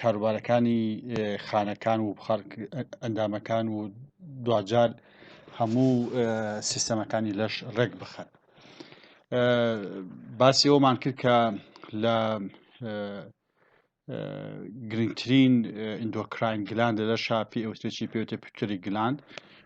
کاروبارەکانی خانەکان و ئەندامەکان و دواجار هەموو سیستەمەکانی لەش ڕێک بخەن باسی ئەومان کرد کە لە گرنگترین ئیندۆکراین گلاند لە شاپی ئەوترێکی پێوتە پتری گلاند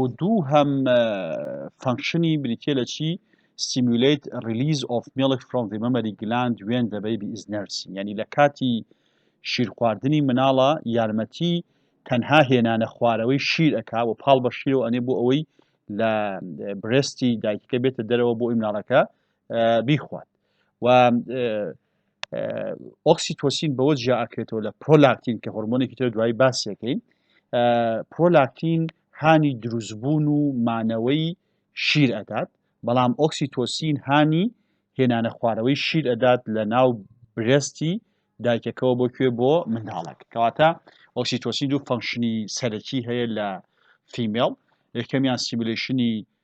و دوو هەم فەنکشنی بریتە لە چی سیمولیت ریلیز ئۆف میڵک فرۆم دی مەمەری گلاند وێن دە بەیبی ئیز نەرسین یعنی لە کاتی شیرخواردنی مناڵە یارمەتی تەنها هێنانە خوارەوەی شیر ئەکا و پاڵ بە شیرەوە ئەنێ بۆ ئەوەی لە برستی دایکەکە بێتە دەرەوە بۆ ئیمناڵەکە بیخوات و ئۆکسیتۆسین بەوە جیا ئەکرێتەوە لە پرۆلاکتین کە هۆرمۆنێکی تر دوای باسیەکەین پرۆلاکتین هانی دروستبوون و مانەوەی شیر ئەدات بەڵام ئۆکسیتۆسین هانی هێنانە خوارەوەی شیر ئەدات لە ناو برستی دایکەکەەوە بۆ کوێ بۆ منداڵک کەواتە ئۆکسیتۆسین دوو فەنکشنی سەرەکی هەیە لە فیمێڵ یەکەمیان سیمولشنی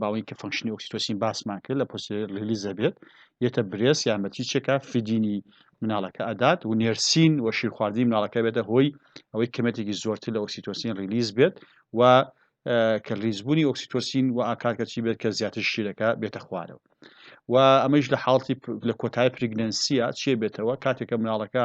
باوەی کە فەنکشنی ئۆکسیتۆسین باسمان کرد لە پۆسی ریلیزە بێت یەتە برێس یارمەتی چێکا فیدینی مناڵەکە ئەدات و نێرسین و شیرخواردنی مناڵەکە بێتە هۆی ئەوەی کەمێتێکی زۆرتر لە ئۆکسیتۆسین ریلیز بێت و کە ریزبوونی ئۆکسیتۆسین و ئاکارکە چی بێت کە زیاتر شیرەکە بێتە خوارەوە و ئەمەش لە حاڵتی لە کۆتای پرگنەنسیە چیە بێتەوە کاتێکە مناڵەکە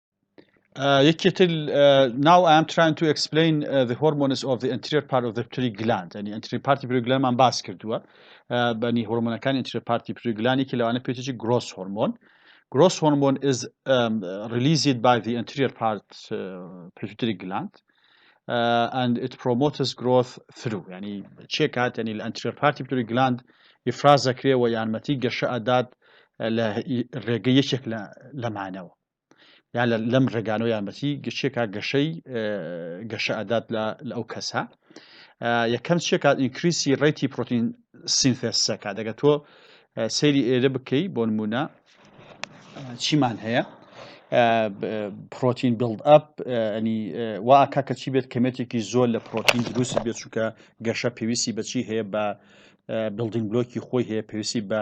یەکێت ناو ئەم تراین تو ئەکسپلین the hormones of the anterior part of the pituitary gland ینی ئەنتری پارتی پرگلانمان باس کردووە بەنی هۆرمۆنەکان ئەنتری پارتی پرگلانی کە لەوانە پێچی گرۆس هۆرمۆن گرۆس هۆرمۆن is um, released by the anterior part uh, pituitary gland uh, and it promotes growth through ینی چێ کات ینی لە ئەنتری پارتی پرگلاند گلاند ئیفراز دەکرێ و یارمەتی گەشە ئەدات لە ڕێگە یەکێک لەمانەوە یان لەم ڕێگانۆ یانبەتی گەشتێکا گەشەی گەشە ئەدات لە ئەو کەسە یەکەم شێکات ئینکریسی ڕێتی پرۆتین سینفێسەکە دەگە تۆ سەیری ئێرە بکەی بۆ نمونە چیمان هەیە پرۆتین بڵد ئەپ ئەنی واکە کە چی بێت کەمێتێکی زۆر لە پرۆتین دروست بێت چووکە گەشە پێویستی بەچی هەیە بە بلدین بلۆکی خۆی هەیە پێویستی بە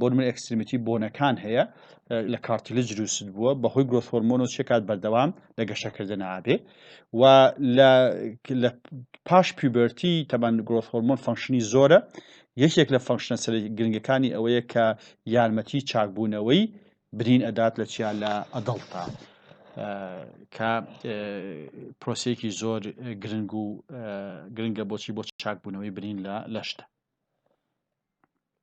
بۆنمونە ئێکستریمیتی بۆنەکان هەیە لە کارتیلج دروست بووە بەهۆی گرۆس هۆرمۆن و چێکات بەردەوام لە گەشەکردن ئابێ و لە پاش پیوبەرتی تەبان گرۆس هۆرمۆن فەنکشنی زۆرە یەکێک لە فەنکشنە سەر گرنگەکانی ئەوەیە کە یارمەتی چاکبوونەوەی برین ئەدات لە چیا لە ئەدڵتا کە پرۆسێکی زۆر گرنگ و گرنگە بۆچی بۆ چاکبوونەوەی برین لە لەشتە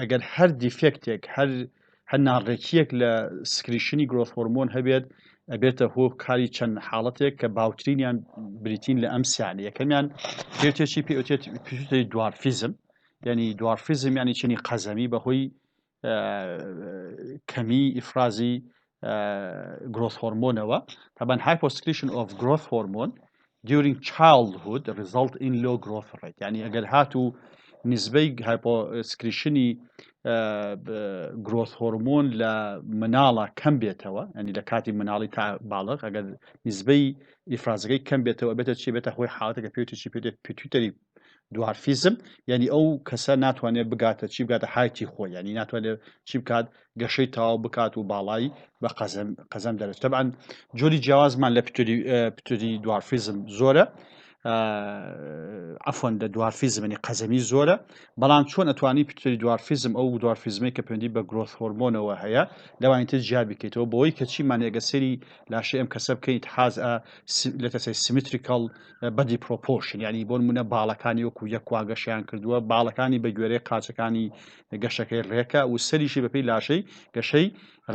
ئەگەر هەر دیفێکتێک هەر هەر ناڕێکیەک لە سکریشنی گرۆس هۆرمۆن هەبێت ئەبێتە هۆ کاری چەند حاڵەتێک کە باوترینیان بریتین لە ئەم سیانی یەکەمیان پێتێکی پێوتێت دوارفیزم یعنی دوارفیزم ینی چنی قەزەمی بەهۆی کەمی ئیفرازی گرۆس هۆرمۆنەوە تابان هایپۆسکریشن ئۆف گرۆس هۆرمۆن دیورینگ چاڵهود ریزڵت ئین لۆ گرۆس ڕێت ینی ئەگەر هات و نزبەی هایپۆسکریشنی گرۆس هۆرمۆن لە مناڵە کەم بێتەوە ئەنی لە کاتی مناڵی تا باڵغ ئەگەر نزبەی ئیفرازەکەی کەم بێتەوە بێتە چی بێتە هۆی حاڵەتەکە پێوتیی پێ پیتوتەری دوارفیزم یعنی ئەو کەسە ناتوانێت بگاتە چی بگاتە حایتی خۆی ینی ناتوانێت چی بکات گەشەی تاو بکات و باڵایی بە قەزم قەزم دەرێت تەبان جۆری جیاوازمان لە پتری پتری دوارفیزم زۆرە ئەفۆن لە دوارفیزمنی قەزەمی زۆرە بەڵام چۆن ئەتوانی پتری دوارفیزم ئەو دوارفیزمی کە پێندی بە گرۆث هۆرمۆنەوە هەیە لەوانی تر جیا بکەیتەوە بۆی کەچی مانێگە سری لاشە ئەم کەسە بکەیت حاز لە تەسەی سیمتریکڵ بەدی پرۆپۆرشن یعنی بۆ نمونە باڵەکانی وەکو یەکوا گەشیان کردووە باڵەکانی بە گوێرەی قاچەکانی گەشەکەی ڕێکە و سەریشی بەپی لاشەی گەشەی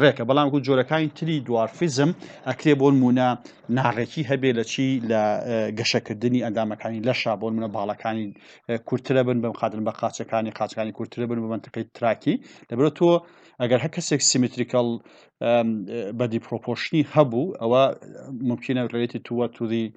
ڕێکە بەڵام وەکو جۆرەکانی تری دوارفیزم ئەکرێ بۆ نمونە ناڕێکی هەبێ لە چی لە گەشەکردنی ئەندامەکانی لەشا بۆ نمونە باڵەکانی کورترە بن بەم قادن بە قاچەکانی قاچەکانی کورترە بن بە منتقی تراکی لەبرە تۆ ئەگەر هە کەسێک سیمتریکەڵ بەدی پرۆپۆشنی هەبوو ئەوە ممکنە ڕێتی تووە توی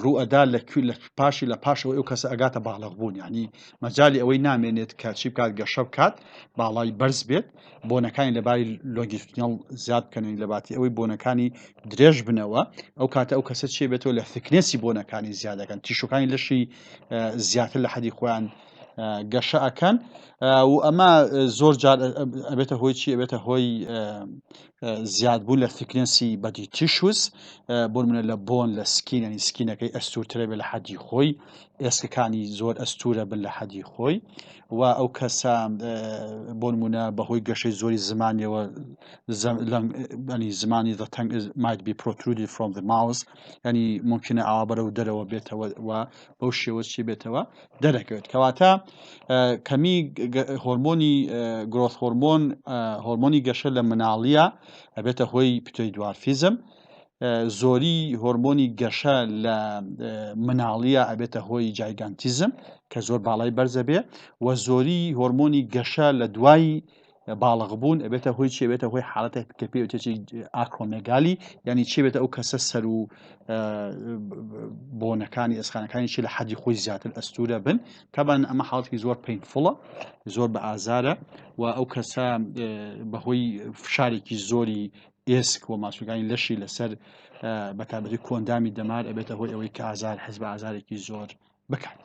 ڕوو ئەدا لە کوێ لە پاشی لە پاشەوەی ئەو کەسە ئەگاتە باڵغ بوون یعنی مەجالی ئەوەی نامێنێت کە چی بکات گەشە بکات باڵای بەرز بێت بۆنەکانی لەباری لۆگیستنیڵ زیاد بکەنین لەباتی ئەوەی بۆنەکانی درێژ بنەوە ئەو کاتە ئەو کەسە چێ بێتەوە لە ثکنێسی بۆنەکانی زیادەکەن تیشوەکانی لەشی زیاتر لە حەدی خۆیان گەشە ئەکەن و ئەمە زۆر جار ئەبێتە هۆی چی ئەبێتە هۆی زیادبوو لە ثیکنەسی بەدی تیشوز بۆ منە لە بۆن لە سکین ینی سکینەکەی ئەستورترە بێ لە حەدی خۆی ئێسکەکانی زۆر ئەستورە بن لە حەدی خۆی و ئەو کەسە بۆن منە بەهۆی گەشەی زۆری زمانیەوە ینی زمانی دەتەنگ مایت بی پرۆترودی فرۆم ماوس ینی ممکنە ئاوا بەرەو دەرەوە بێتەوە و بەو شێوەچی بێتەوە دەرەکەوێت کەواتە کەمی هۆرمۆنی گرۆس هۆرمۆن هۆرمۆنی گەشە لە مناڵیە ئەبێتە هۆی پتۆی دوارفیزم زۆری هۆرمۆنی گەشە لە مناڵیە ئەبێتە هۆی جایگانتیزم کە زۆر باڵای بەرزە بێ و زۆری هۆرمۆنی گەشە لە دوای باڵغ بوون ئەبێتە هۆی چێ بێتە هۆی حالەتێک کە پێ وتێکی ئاکرۆمێگالی ینی چێ بێتە ئەو کەسە سەر و بۆنەکانی ئێسخانەکانی چی لە حەدی خۆی زیاتر ئەستورە بن تابان ئەمە حڵاتی زۆر پینفڵە زۆر بە ئازارە و ئەو کەسە بەهۆی فشارێکی زۆری ئێسک و ماسوگانی لەشی لەسەر بەتابەتی کۆندامی دەمار ئەبێتە هۆی ئەوەی کە ئازار حەز بە ئازارێکی زۆر بکات.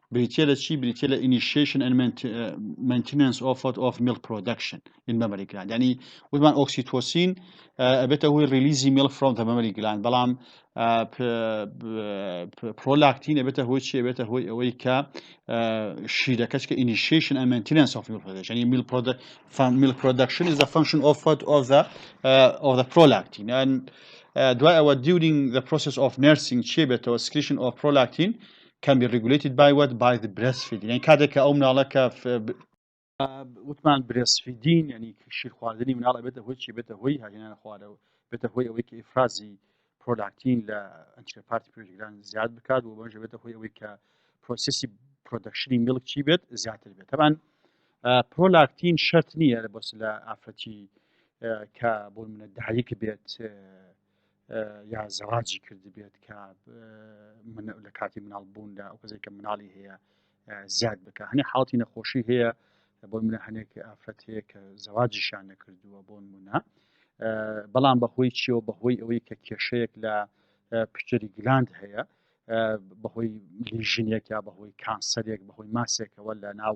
بریتیە لە چی بریتیە لە ئینیشیشن ئەن مەنتینەنس ئۆفت ئۆف میڵ پرۆدەکشن ئین مەمەری گلاند ینی وتمان ئۆکسیتۆسین ئەبێتە هۆی ریلیزی میڵ فرۆم دە مەمەری گلاند بەڵام پرۆلاکتین ئەبێتە هۆی چی ئەبێتە هۆی ئەوەی کە شیرەکەچ کە ئینیشیشن ئەن مەنتینەنس ئۆف میڵ پرۆدەکشن میڵ پرۆدە میڵ پرۆدەکشن is the function of fat of the uh, of the prolactin and uh, دوای ئەوە during the process of nursing چی بێتەوە secretion of prolactin can be regulated by what by the breastfeeding یعنی کاتێک کە ئەو مناڵە کە وتمان برێسفیدین ینی شیرخواردنی مناڵە بێتە هۆی چی بێتە هۆی هاهێنان خوارەوە بێتە هۆی ئەوەی کە ئفرازی پرۆلاکتین لە ئەنچە پارتی پێشگران زیاد بکات و بەژە بێتە هۆی ئەوەی کە پرۆسیسی پرۆدەکشنی میلک چی بێت زیاتر بێت تەبان پرۆلاکتین شەرت نییە لە بەس لە ئافرەتی کە بۆ منە دهایک بێت یا زەواجی کردبێت کە لە کاتی مناڵ بووندا ئەو کەسێک کە مناڵی هەیە زیاد بکە هەنێ حاڵی نەخۆشی هەیە بۆ منە هەنێک ئافرەت هەیە کە زەواجیشان نەکردووە بۆ نمونە بەڵام بەهۆی چیەوە بەهۆی ئەوەی کە کێشەیەک لە پشتری گلاند هەیە بەهۆی لیژنێک یا بەهۆی کانسەرێک بەهۆی ماسێکەوە لە ناو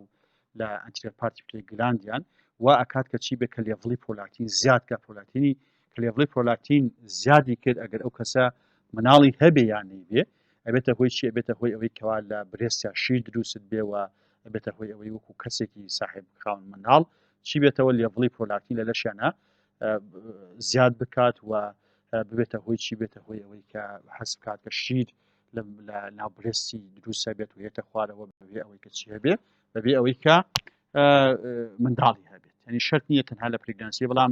لە ئەنتیرپارتی پێ گلاندیان و ئەکات کە چی بێ کە لێڤڵی پۆلاتین زیاد کە پۆلاتینی کە لێڤڵی پرۆلاکتین زیادی کرد ئەگەر ئەو کەسە مناڵی هەبێ یان نەیبێ ئەبێتە هۆی چی ئەبێتە هۆی ئەوەی کەوا لە برێسیا شیر دروست بێەوە ئەبێتە هۆی ئەوەی وەکو کەسێکی ساحب خاون مناڵ چی بێتەوە لێڤڵی پرۆلاکتین لە لەشیانە زیاد بکات و ببێتە هۆی چی بێتە هۆی ئەوەی کە حەز بکات کە شیر لە ناوبرێستی دروسە بێت و هێتە خوارەوە بەبێ ئەوەی کە چی هەبێ بەبێ ئەوەی کە منداڵی هەبێت ینی شەرت نیە تەنها لە پرگنسی بەڵام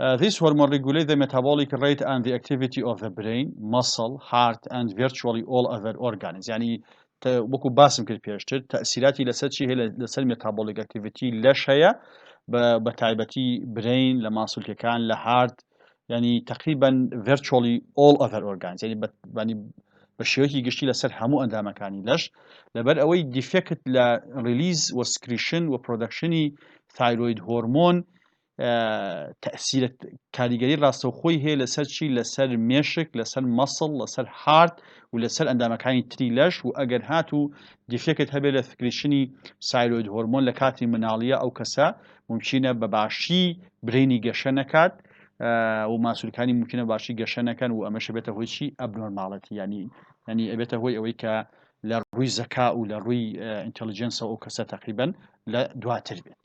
Uh, this hormone regulates the metabolic rate and the activity of the brain, muscle, heart and virtually all other organs. يعني وەکو باسم کرد پێشتر تەسیراتی لەسەر چی هەیە لەسەر مێتابۆلیک ئەکتیڤەتی لەش هەیە بە تایبەتی برین لە ماسولکەکان لە هارد ینی تقریبان ڤرچۆلی ئۆل ئەڤەر ئۆرگان ینی بە شێوەی گشتی لەسەر هەموو ئەندامەکانی لەش لەبەر ئەوەی دیفێکت لە ریلیز وە سکریشن و پرۆدەکشنی تایرۆید هۆرمۆن تەسیرە کاریگەری ڕاستەوخۆی هەیە لەسەر چی لەسەر مێشک لەسەر مەسڵ لەسەر هارد و لەسەر ئەندامەکانی تری لەش و ئەگەر هات و دیفێکت هەبێت لە سکرشنی سایلۆید هۆرمۆن لە کاتی مناڵیە ئەو کەسە ممکنە بە باشی برینی گەشە نەکات و ماسوولکانی ممکنە باشی گەشە نەکەن و ئەمەشە بێتە هۆی چی ئەبنۆرماڵەتی ینی ینی ئەبێتە هۆی ئەوەی کە لە ڕووی زەکا و لە ڕووی ئینتەلیجنسەوە ئەو کەسە تەقیبن لە دواتر بێت.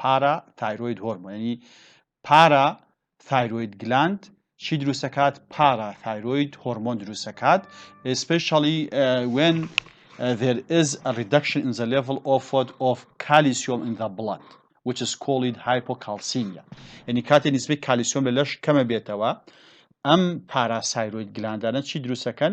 پارا تایرۆید هۆرمۆن یعنی پارا تایرۆید گلاند چی دروستەکات پارا تایرۆید هۆرمۆن دروستەکات ئسپشڵی وێن there is a reduction in the level of what of calcium in the blood which is called hypocalcemia یعنی کاتێ نسبەی کالیسیۆم لە لەش کەمە بێتەوە ئەم پاراسایرۆید گلاندانە چی دروستەکەن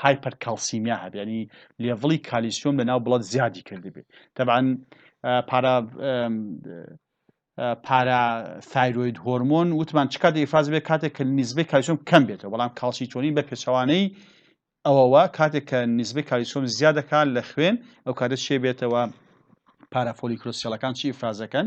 هایپەر کالسیمیا هەبێ یعنی لێڤڵی کالیسیۆم لە ناو بڵەت زیادی کردبێ تەبعاً پارا پارا تایرۆید هۆرمۆن وتمان چ کاتێک ئیفراز بێت کاتێک کە نزبەی کالیسیۆم کەم بێتەوە بەڵام کالسیتۆنین بە پێچەوانەی ئەوەوە کاتێک کە نزبەی کالیسیۆم زیادەکان لە خوێن ئەو کاتە شێ بێتەوە پارافۆلیکرۆسیەڵەکان چی ئیفرازەکەن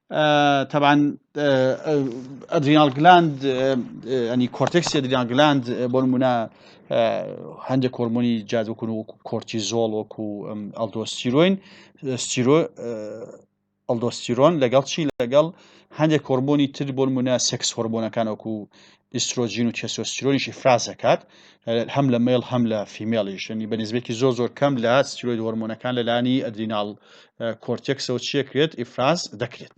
تەبعەن ئەدریناڵ گلاند ئەنی کۆرتێکسی ئەدریناڵ گلاند بۆ نمونە هەندێک کۆرمۆنی جادوکن و کۆرتی زۆڵ وەکو ئەلدۆستیرۆین ئەلدۆستیرۆن لەگەڵ چی لەگەڵ هەندێک کۆرمۆنی تر بۆ نمونە سێکس هۆرمۆنەکان وەکو ئیسترۆجین و تێسۆستیرۆنیشی ئیفراز دەکات هەم لە مێڵ هەم لە فیمێڵیش یعنی بە نسبێکی زۆر زۆر کەم لە ستیرۆید هۆرمۆنەکان لەلانی ئەدریناڵ کۆرتێکسەوە چێکرێت ئیفراز دەکرێت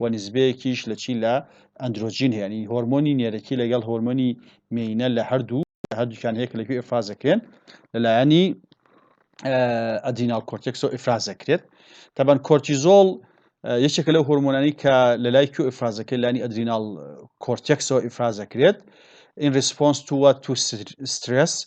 و نیسبەیەکیش لە چی لە ئەندرۆجین هەیە یانی هۆرمۆنی نێرەکی لەگەڵ هۆرمۆنی مێینە لە هەردوو لە هەردووکیان هەیە کە لەکوێ ئیفراز دەکرێن لەلایەنی ئەدیناڵ کۆرتێکسەوە ئیفراز دەکرێت تەبەن کۆرتیزۆڵ یەکێکە لەو هۆرمۆنانی کە لە لای کو ئیفراز دەکرێت لانی ئەدریناڵ کۆرتێکسەوە ئیفراز دەکرێت in response to what to stress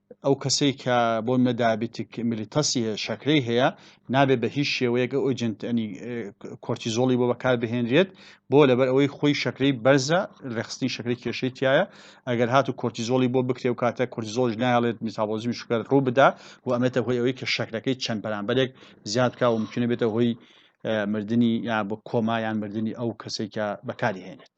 ئەو کەسەی کە بۆ منە دابیتک ملیتەسی هەیە شەکرەی هەیە نابێت بە هیچ شێوەیەک ئەو ئۆجنتنی کۆرتیزۆڵی بۆ بەکار بهێنرێت بۆ لەبەر ئەوەی خۆی شەکرەی بەرزە ڕێخستنی شەکری کێشەی تایە ئەگەر هات و کۆرتیزۆڵی بۆ بکرێ و کاتە کۆرتیزۆش نایڵێت میتابۆزمی شکر ڕوو بدا و ئەمێتە هۆی ئەوەی کە شەکرەکەی چەند بەرامبەرێک زیاد بکە و ممکنە بێتە هۆی مردنی یا بۆ کۆمایان مردنی ئەو کەسێکە بەکاری هێنێت.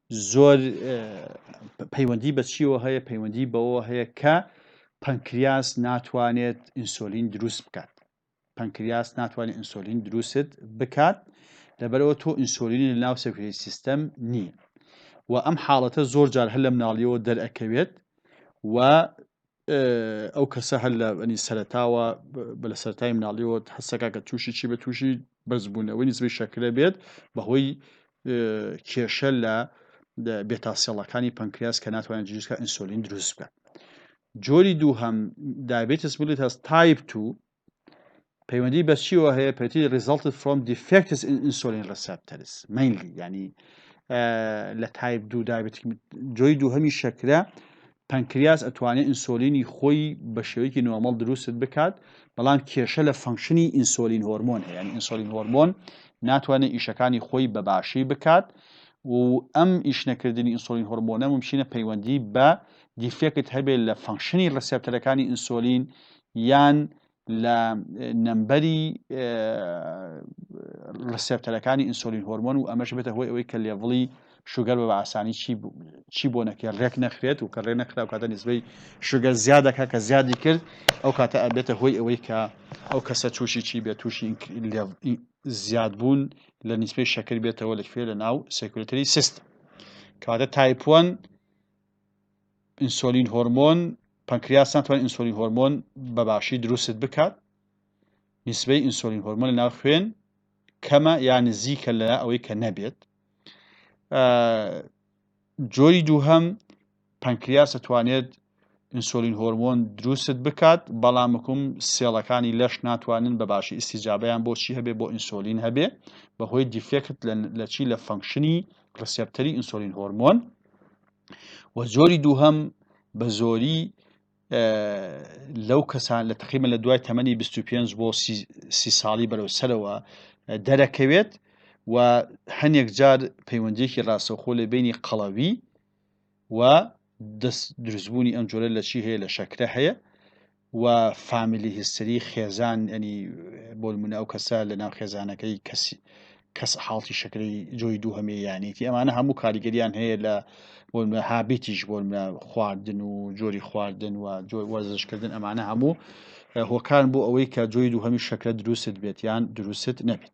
زۆر پەیوەندی بە چیەوە هەیە پەیوەندی بەوە هەیە کە پەنکریاس ناتوانێت ئینسۆلین دروست بکات پەنکریاس ناتوانێت ئینسۆلین دروست بکات لەبەرەوە تۆ ئینسۆلینی لە ناو سەکری سیستەم نییە و ئەم حاڵەتە زۆر جار هەر لە مناڵیەوە دەرەکەوێت و ئەو کەسە هەر لە ئەنی سەرتاوە بە لە سەرای مناڵیەوە حسەکە کە تووشی چی بە تووشی بەرزبوونەوەی نزبی شەکرە بێت بەهۆی کێشە لە بێتاسیێڵەکانی پەنکریاس کە ناتوانێت جیسکە ئینسۆلین دروست بکات جۆری دوو هەم دابێتس بلێت هەست تایپ تو پەیوەندی بە چیەوە هەیە پێتی ریزڵت فرۆم دیفکتس ئینسۆلین ڕسپتەرس مینلی ینی لە تایپ دوو دابێت جۆی دوو هەمی شەکرە پەنکریاس ئەتوانێت ئینسۆلینی خۆی بە شێوەیەکی نۆمەڵ دروست بکات بەڵام کێشە لە فەنکشنی ئینسۆلین هۆرمۆن هەیە یعنی ئینسۆلین هۆرمۆن ناتوانێت ئیشەکانی خۆی بە باشی بکات و ئەم ئیش نەکردنی ئینسۆلین هۆرمۆنە ممچینە پەیوەندی بە دیفێکت هەبێت لە فەنکشنی ڕسپتەرەکانی ئینسۆلین یان لە نەمبەری ڕسێپتەرەکانی ئینسۆلین هۆرمۆن و ئەمەش بێتە هۆی ئەوەی کە لێڤڵی شوگەر بە ئاسانی چی بۆ نەکرێت ڕێک نەخرێت و کە ڕێ نەخرا و کاتە نزبەی شوگەر زیادەکە کە زیادی کرد ئەو کاتە ئەبێتە هۆی ئەوەی کە ئەو کەسە تووشی چی بێت تووشی زیاد بوون لە نیسبەی شەکر بێتەوە لەکوێ لە ناو سێکولتری سیست کەواتە تایپۆن ئینسۆلین هۆرمۆن پەنکریاس ناتوانێت ئینسۆلین هۆرمۆن بە باشی دروستت بکات نسبەی ئینسۆلین هۆرمۆن لە ناو خوێن کەمە یا نزیکە لە ئەوەی کە نەبێت جۆری دووهەم پەنکریاس دەتوانێت ئینسۆلین هۆرمۆن دروستت بکات بەڵام مکم سێڵەکانی لەش ناتوانن بە باشی ئیسیجابیان بۆچی هەبێ بۆ ئینسۆلین هەبێ بەهۆی دیفێکت لە چی لە فەنکشنی ڕسپتەری ئینسۆلین هۆرمۆن و جۆری دووهەم بە زۆری لەو کەسان لە تقیمە لە دوای تەمەنی 25 بۆ سی ساڵی بەرەو سەرەوە دەرەکەوێت و هەنێک جار پەیوەندێکی ڕاستەخۆ لە بینی قەڵەوی و دەست دروستبوونی ئەم جۆرە لە چی هەیە لە شەکرە هەیە و فامیلی هیستری خێزان ینی بۆلمونە ئەو کەسە لە ناو خێزانەکەی کەسی کەس حاڵتی شکری جۆی دوو هەمێ یانێتی ئەمانە هەموو کاریگەریان هەیە لە بۆلمە هابیتیش بۆلمە خواردن و جۆری خواردن و جۆر وەرزشکردن ئەمانە هەموو هۆکان بۆ ئەوەی کە جۆی دوو هەمی شکرە دروست بێت یان دروست نەبێت